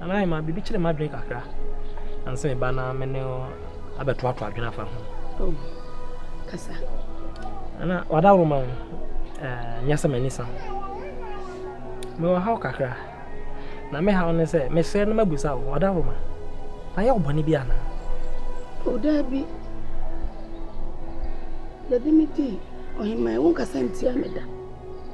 Nana Emma, biribi kyere m'adwene kakra. Ansa me ba na me ne abɛtoatoa adwene afa ho. Oh, kasa. Nana, wadaworo ma wo. Nyɛ sɛ m'ani sa ho. Mewɔ haw kakra. Na me haw ne sɛ mesrɛ no mabusa wo, wadaworo ma. Mayɛ wo bɔne bi anaa? O, daabi. Daabi me di, ɔheman, wonkasa ntia me da.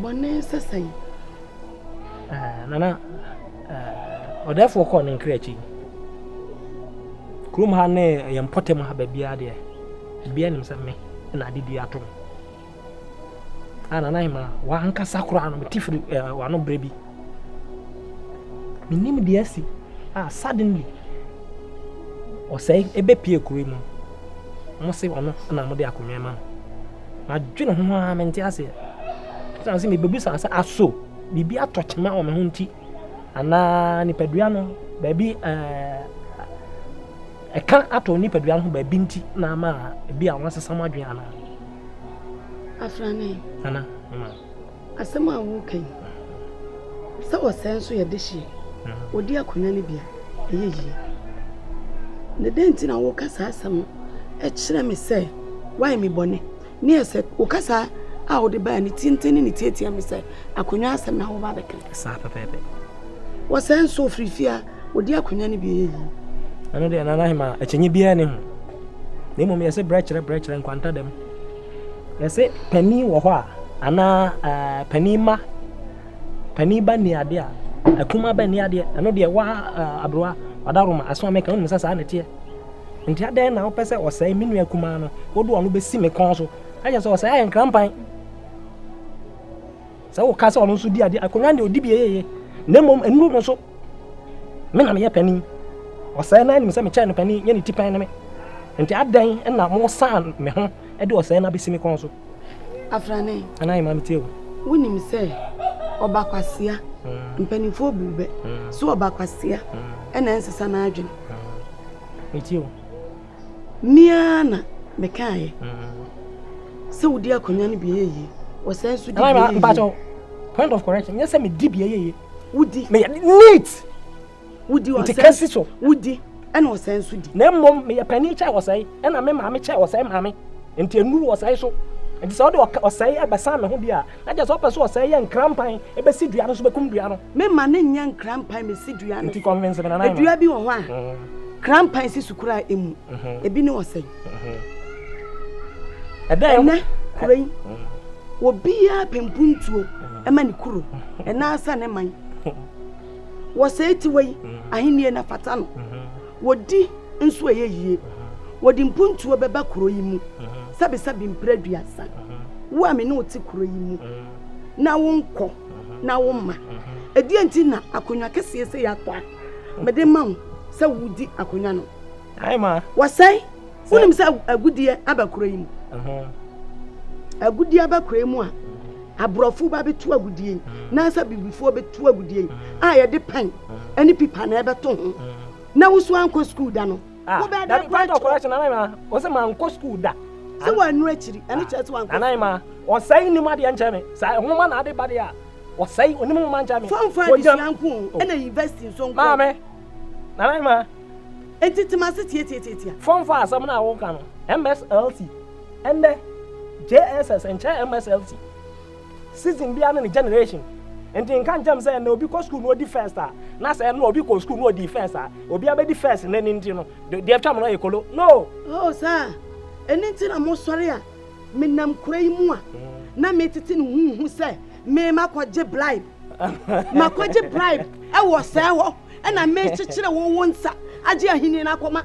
Bɔne sɛ sɛn? Ah, Nana, ah, ɔdɛfoɔ kɔɔ ne nkra akyi. Kurom ha ne yɛn mpɔtam ha baabiara deɛ, bia nim sɛ me na ade bi ato me. Ah, Nana Hema, wankasa koraa no, mete firi eh, wano berɛ bi. Mennim deɛ asi a suddenly ɔsɛe ɛbɛpie kuro yi mu. Mo se ɔno na mode akonnwa ma no. Madwene ho ara mente aseɛ. Ɛsan sɛ mebɛbisa sɛ aso biribi atɔ kyema wɔ me ho nti anaa nipadua no baabi ɛɛ ɛka atɔ nipadua no ho baabi nti na ama ebi a wɔasesa mo adwene anaa. Afrane. Ana, mma. Asɛm a woreka yi, sɛ ɔsɛe nso yɛ dehyeɛ, ɔdi akonnwa no bi a, ɛyɛ yie. Na dɛn nti na woka saa asɛm no? Ɛkyerɛ me sɛ woayɛ me bɔne. Ne yɛ sɛ wo kasa a wode baa ne tenten ne ne tiatia me sɛ akonnwa asɛm na woba bɛka. Saa pɛpɛɛpɛ. Wɔsɛe nso ɔfiri fie a ɔdi akonnwa no bi ɛyɛ yie. Ɛno deɛ Nana Hema, akyinnye biara ne ho. Na mmom yɛsɛ brɛ kyerɛ brɛ kyerɛ nkwanta dɛm. Yɛse panin wɔ hɔ a anaa ɛɛ panin mma, panin ba nni adeɛ a, akumaa ba nni adeɛ. Ɛno deɛ wa ɛɛ aberewa wadaroma aso ameka wonim sɛ saa na ɛteɛ. Nti adɛn na wopɛ sɛ ɔsɛe me nua kumaa no wode ɔno bɛsi me kɔn so ayɛ sɛ ɔsɛe ayɛ nkrampan sɛ woka sɛ ɔno nso di adeɛ akonnwa deɛ ɔdi bi yɛyɛyɛ na mmom nnuro no so Me na meyɛ panin. Ɔsɛe no ara nim sɛ mekyɛn no panin, nyɛ ne ti pɛn ne me. Enti adɛn na moresan me ho de ɔsɛe no abɛsi me kɔn so? Afrane. Anaa ɛma metie o. Wonim sɛ ɔbakwasea mm. mpanimfoɔ bu bɛ mm. so ɔbakwasea mm. ɛna ɛnsesa n'adwene. Metie o. Mmea na mekaeɛ sɛ wodi akonnwa no bi yɛ yie, ɔsɛe nso di bi yɛ yie. Point of correction, nyɛ sɛ medi bi yɛ yie. wodi meyɛ neat wodi ɔsɛe nti kasi so wodi ɛna ɔsɛe nso di na mmom meyɛ panin kyɛ ɔsɛe ɛna me maame kyɛ ɔsɛe maame nti enuru ɔsɛe so nti sɛ ɔde ɔsɛe ɛbɛsan me ho bi a na kyɛ sɛ ɔpɛ so ɔsɛe yɛ nkrampan ɛbɛsi dua no so bɛkum dua no me ma ne nyɛ nkrampan mesi dua no nti convince me na na dua bi wɔ hɔ a mm. krampan si so koraa emu mm-hmm. ebi ne ɔsɛe ɛnɛ kuro yi obiara pɛ mpuntuo ɛma ne kuro ɛna asa ne man wɔ sɛɛ tiwa yi ahennie na fata no wɔdi nso ɛyɛ yie wɔde mpuntuo bɛba kuro yi mu sɛbesɛbe mpere aduasa wo a me ne wote kuro yi mu na wonkɔ na woma ɛdeɛ nti na akonnwa kɛseɛ sɛ yɛatɔ a mede ma wo sɛ wodi akonnwa no wɔsɛe wonim sɛ agudeɛ aba kuro yi mu agudeɛ aba kuro yi mu a aborɔfo ba bɛtu agudeɛ yi nansa bibifoɔ bɛtu agudeɛ yi a yɛde pɛn ne pipa na ɛbɛto ho na woso ankɔ sukuu da no wobɛdɛ kɔkyerɛ mankɔ sukuu da sɛ wɔanu akyiri ɛno kyerɛ sɛ wankɔ anan ma ɔsɛe nim adeɛ nkyɛ me saa nwoma na ade ba deɛ a ɔsɛe onim nwoma nkyɛ me fɔmfa adesua nko ɛna university nso nko maame nanan ma Enti te m'ase tiatiatiatia. Fɔn fa asɛm no a woka no. MSLT, ɛndɛ JSS nkyerɛ MSLT. Season biara ne ne generation. Enti nka nkyerɛ me sɛ ɛnnɛ obi kɔ sukuu na odi first a, na sɛ ɛnnora obi kɔɔ sukuu na odii first a, obiara bɛdi first nnɛ no nti no, deɛ ɛtwam no yɛ kolo. No! Oh, saa! Ɛno nti na mosɔre a menam kuro yi mu a, na metete no huuhu sɛ merema kɔgye bribe. makɔgye bribe ɛwɔ sɛɛ hɔ ɛna mekyekyere wo wo nsa agye ahenni no akɔma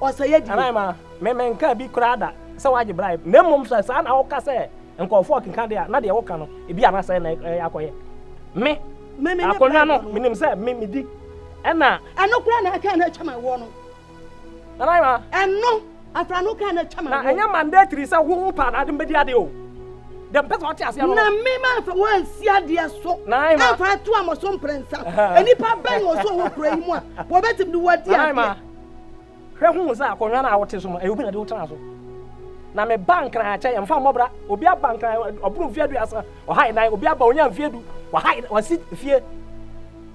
ɔsɛeɛ die anaa ma memenka bi koraa da sɛ woagye bribe na mmom sɛ saa na woka sɛ nkurɔfoɔ ɔkenka deɛ a na deɛ woka no ebi anasɛ na akɔyɛ me akonnwa no menim sɛ me medi ɛna ɛno koraa na ɛka na atwa ma woɔ no Nanaima. Ɛno afra no kan na atwa ma. Na ɛnyɛ mandatory sɛ wo wo paa na ade mbɛdi ade o. Dɛ mpɛ sɛ ɔte ase ano. Na me ma nfa wo ansi adeɛ so. Nanaima. Ɛnfa ato amɔ so mprɛnsa. Nnipa bɛn na ɔso wɔ kura yi mu a wɔbɛtumi de wɔadi adeɛ. Nanaima. Hwɛ hu sɛ akonnwa no a wote so no ɛyɛ obi na de wotena so. Na me ba nkran akyɛ yɛn fa mmɔbra obi aba nkran ɔboro mfeɛ aduasa ɔha nan obi aba onya mfeɛ du waha wasi fie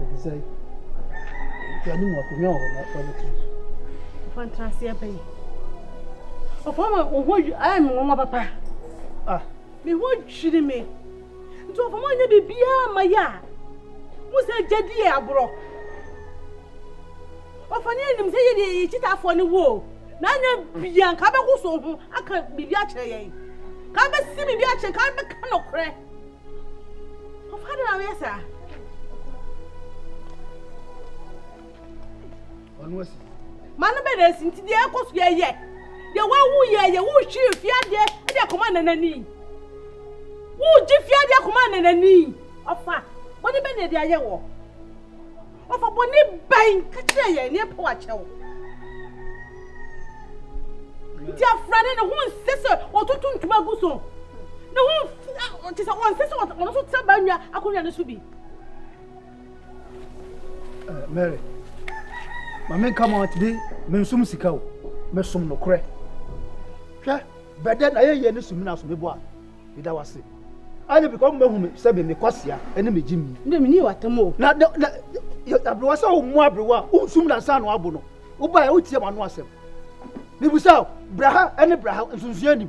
Ɛfiri sɛ yɛne mu akonnwa wɔ hɔ na wɔbɛto so. Ɔfa ntra ase ɛbɛ yi. Ɔfa ma wo ho ayɛ me nwanwa papa. Ah. Me ho dwiri me. Nti ɔfa ma ɔnyɛ biribiara ma yɛ a. Mo sɛ gyadi yɛ aborɔ. Ɔfa ne anim sɛ yɛde yɛ kyitaafoɔ ne wo. Na anya bia nka bɛgo so ho aka biribi akyerɛ yɛn. Ka bɛsi biribi akyerɛ ka bɛka nɔkorɛ. Mano bɛ na esi nti deɛ ɛkɔ so yɛ yɛ deɛ wawu yɛ yɛ wohwiri fiadeɛ ɛde akɔma nanani wogye fiadeɛ akɔma nanani ɔfa wɔde bɛ na ɛde ayɛ wɔ. Wɔfa bɔne bɛn ka kyerɛ yɛn ne ɛpɛ wakyɛw. Nti afra no ne ho nsɛ sɛ wɔtoto ntoma gu so. Ne ho te sɛ wɔnsɛ sɛ wɔn nso tena baa nwa akonnwa no so bi. Eh, Mary, ma menka ma ɔtede mensom sika o, mesom nokorɛ. Hwɛ, bɛdɛ na yɛyɛ ne sumina so mebɔ a. Meda wo ase. Ɛne bika ɔmo bɛhu me sɛ me mekɔsea ɛne me gye mi. Ndɛ menni w'atam o. Na na na aberewa sɛ ɔmmu aberewa a wonsum na nsa ano abo no wobaeɛ wotie m'ano asɛm. Mebusa o bra ha ɛne bra ha nsonsoɛ anim.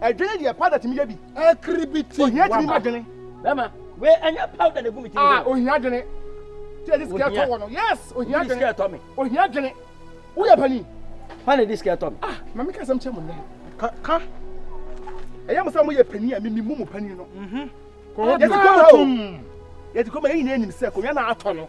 Adwene deɛ powder tumi yɛ bi. Akiribiti waba. Ohia tumi ma dwene. Bɛma wei ɛnyɛ powder na egu mi ti mi. Ah ohia dwene. Tí yɛ di sikɛ tɔ wɔ no yes ohia dwene. Di sikɛ tɔ mi. Ohia dwene. Wo yɛ panyin. Hwan na di sikɛ tɔ mi. Ah maame ka asɛm kyɛ mo nnɛ. Ka ka. Ɛyɛ mo sɛ mo yɛ panyin a mi mi mu mo panyin no. Mhm. Kɔn ho bi. Yɛ ti kɔn mo tum. Yɛ ti kɔn mo yɛ nyinaa enim sɛ kɔn yɛ na atɔ no.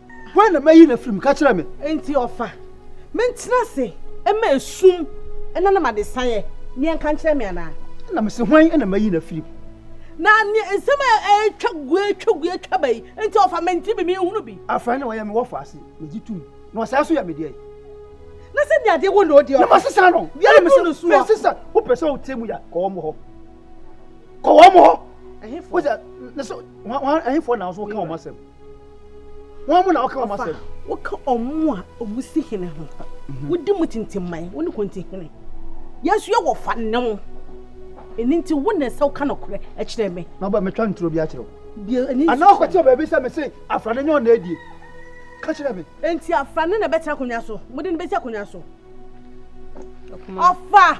Hwan na mayi no afiri mu? Ka kyerɛ me. Enti ɔfa me ntena ase ma esum na nam adesaeɛ ne ɛnka nkyerɛ me anaa? Ɛna mese, Hwan na mayi no afiri mu? Na neɛ nsɛm a ɛretwa gu ɛretwa gu ɛretwa ba yi nti ɔfa me nti me menhunu bi. Afei na ɔyɛ me wɔfo ase, megye tum, na ɔsan so yɛ me deɛ. Na sɛ deɛ adeɛ wɔ na ɔdi ɔfa. Na masesa no. Biara mese no soɔ. Mese sɛ wopɛ sɛ wotie mu ya kɔ wɔn hɔ. Kɔ wɔn hɔ. Ɛhefoɔ? Wosɛ, na sɛ wɔn ɛhefoɔ na nso woka wɔn asɛm. Wɔn mu na wɔka wɔn asɛm. Wɔka wɔn mu a wɔn si hene ho. Mhm. Wodi mu tintim man. Wɔn ne kɔnti hene. Yɛn nso yɛ wɔ fa ne ho. Ɛni nti wo na ɛsɛ woka nokorɛ kyerɛ me. Na ɔbɛ metwa nturo bi akyerɛ wo. Ana ɔkɔte wɔ baabi sɛ me se afra ne nyɛ ɔna adie. Ka kyerɛ me. Nti afra ne na ɛbɛtena akonnwa so. Mode no bɛsi akonnwa so. Ɔfa.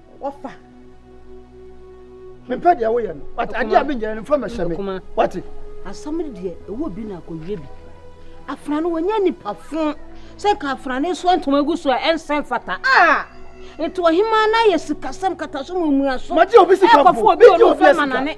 wɔfa mempɛ deɛ woyɛ no wate adeɛ a menyɛ no mfa mɛhyɛ me wate asɛm no deɛ ɛwɔ bi na akɔwie bi afena no wɔnyɛ nnipa fo sɛ ka afena no nso ntoma gu so a ɛnsɛ mfata a nti ɔhema no ayɛ sikasɛm kataso mu mmuaso ɛkɔfo obi ɔno mfa ma nane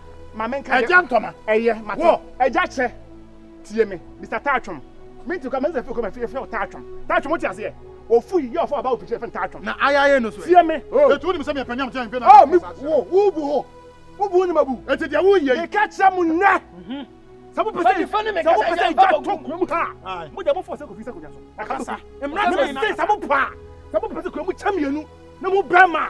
ma me nka ɛgya ntɔma ɛyɛ matɔ ɛgya kyɛ tie me mr taatwom me nti kɔ ma nsa fi kɔ ma fi fɛ taatwom taatwom wote aseɛ ofu yi yɛ ɔfɔ ɔba opikyi fɛ taatwom na ayayɛ no so tie me etu oh. ni sɛ mepɛ nyam kyɛn mpe na mi wo wo bu hɔ wo bu ni ma bu eti deɛ wo yɛ yi meka kyerɛ mu nnɛ mhm. sɛ mo pɛsɛ sɛ mo pɛsɛ ɛgya tɔ kura mu ha ah. mo deɛ mo fɔ sɛ kofi sɛ konya so ɛkasa mmira sɛ sɛ mo pa sɛ mo pɛsɛ kura mu kyɛ mienu na mo bɛɛ ma.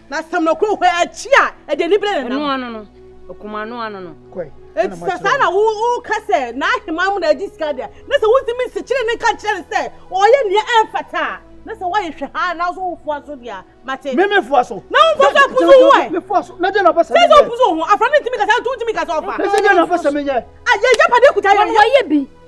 Na sɛm no kɔ hɔ akyi a, ɛde anibere na nam. Ɛno ano no, ɔkum ano ano no. Kɔe. Enti sɛ saa na woka sɛ n'ahemman mu na adi sika deɛ, na sɛ wontumi nsikyere ne nka nkyerɛ no sɛ ɔyɛ nea ɛmfata a, na sɛ woayɛ hwɛ haa na so wofoa so deɛ a, mate. Me mefoa so. Na womfa so apusu ho ɛ. Mefoa so. Na deɛ na ɔpɛ sɛ menyɛ. Sɛ sɛ wopusu ho, afra no ntumi kasa, nti wontumi kasa ɔfa. Sɛ deɛ na ɔpɛ sɛ menyɛ. A yɛyɛ pade kuta yɛn yɛ. Wɔyɛ bi.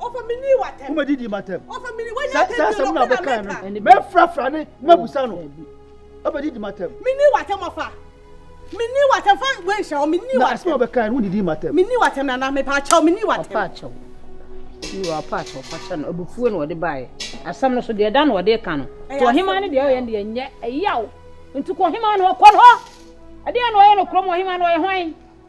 wobɛdidi matam saa asɛm no a bɛkae no mɛfrafra ne mabusa no wobɛdidi matam menni w'atɛm fa wenhyɛ hɔ menni w'atɛm asɛm a bɛkae no wodidi matam menni w'atɛm nana mepaakyɛw menni w'atɛm ɔpaakyɛw yiwa ɔpaakyɛw ɔpaakyɛw no abufuo na ɔde baeɛ asɛm no so deɛ ɛda na ɔde ka no to ɔhemaa no deɛ ɔyɛ no deɛ nyɛ ɛyaw nti kɔ ɔhemaa no hɔ kɔ no hɔ ɛdeɛ na ɔyɛ no kurom ɔhemaa no ɔyɛ hwan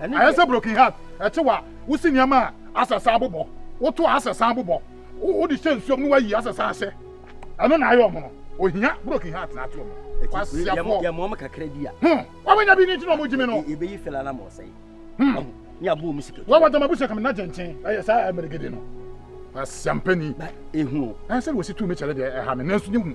Ayɛ sɛ broken heart ɛtew a wosi nneɛma a asɛ san bobɔ, woto a asɛ san bobɔ, wode hyɛ nsuom na woayi asɛ san hyɛ. Ɛno na ayɛ ɔmo no. Ohia broken heart na ate ɔmo. Kwasiafoɔ. Yɛ mɔm kakra bi a. Hmm. Wawanya bi ni ti na ɔmo gyi me no. Yɛbɛyi fɛla na ma ɔsɛe. Hmm. Ni abo ɔmo sika. Wawa dama bu sɛkam na gyenkyen. Ɛyɛ saa ɛmɛrɛgede no. Asiampani. Ehu. Ɛsɛ na wɔsi tu me kyɛrɛ deɛ ɛha me nanso ne hu.